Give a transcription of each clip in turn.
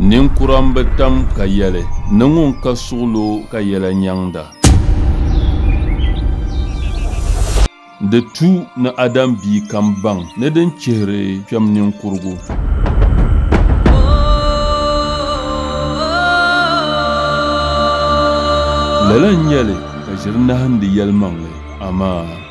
Ninkura n bi tam ka yɛli ni ŋun ka suɣilo ka yɛla nyaŋda. Di tu ni Adam bia kam baŋ ni din chihiri kpɛm ninkurigu. Lala n-nyɛli ka ʒiri nahindi yɛlimaŋli, amaa!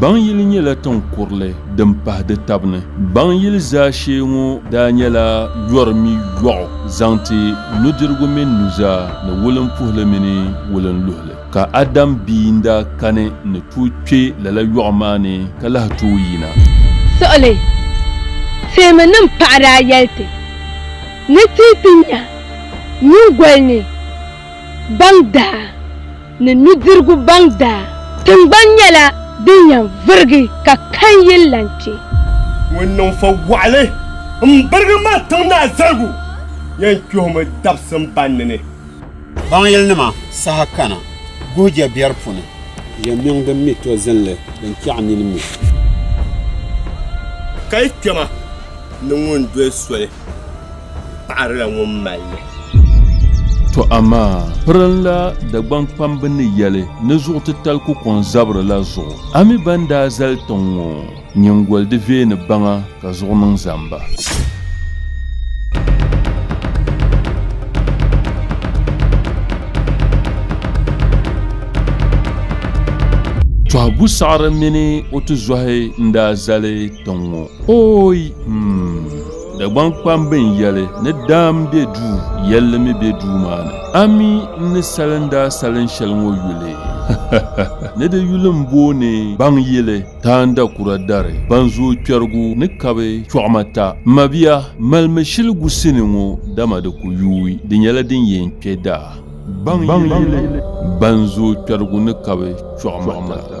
Baŋyili nyɛla tiŋ kurili din pahi di tab ni. Baŋyili zaashee ŋɔ daa nyɛla yɔri mi yɔɣu zaŋ ti nudirigu mini nuzaa ni wulimpuhili mini wulinluhili. Ka Adam bia n-daa kani ni tooi kpe lala yɔɣu maa ni ka lahi tooi yina. Suɣili teemi nim paɣa daa yɛli ti ni ti yi ti nya nyingoli ni baŋ daa. ni nudirigu baŋ daa. Tiŋgbani nyɛla din yɛn virigi ka kan yili lan kpe. Ŋun niŋ fo waɣili m-birigi mali tiŋ naa zaligu yɛn kpihimi dabsim banni ni. Baŋyilinima saha kana guhi je biɛri puni. Yɛmiŋ din mi to zinli din kpiɛɣu nini mi. Ka yi kpɛma ni ŋun doli soli. paɣirila ŋun mali li. Tɔ amaa pirinla Dagbaŋkpamb ni yɛli ni zuɣutitali ku kɔŋ zabiri la zuɣu, a mi ban daa zali tiŋ ŋɔ nyiŋgoli di veeni baŋa ka zuɣu niŋ zamba. Tɔhigu saɣiri mini o tizɔhi n-daa zali tiŋ ŋɔ, Ooi! Mmm! Dagbaŋ kpambi n yɛli ni daam be duu yɛlli mi be duu maa ni. A mi n ni salim daa salin shɛli ŋɔ yuli ni di yuli n booni baŋ yili, taanda kura dari, ban zooi kpɛrigu ni kabi chɔɣima ta. M mabia, malimi shili gu sini ŋɔ dama di ku yuui, di nyɛla din yɛn kpe daa. Baŋ yili, ban zooi kpɛrigu ni kabi chɔɣima ta.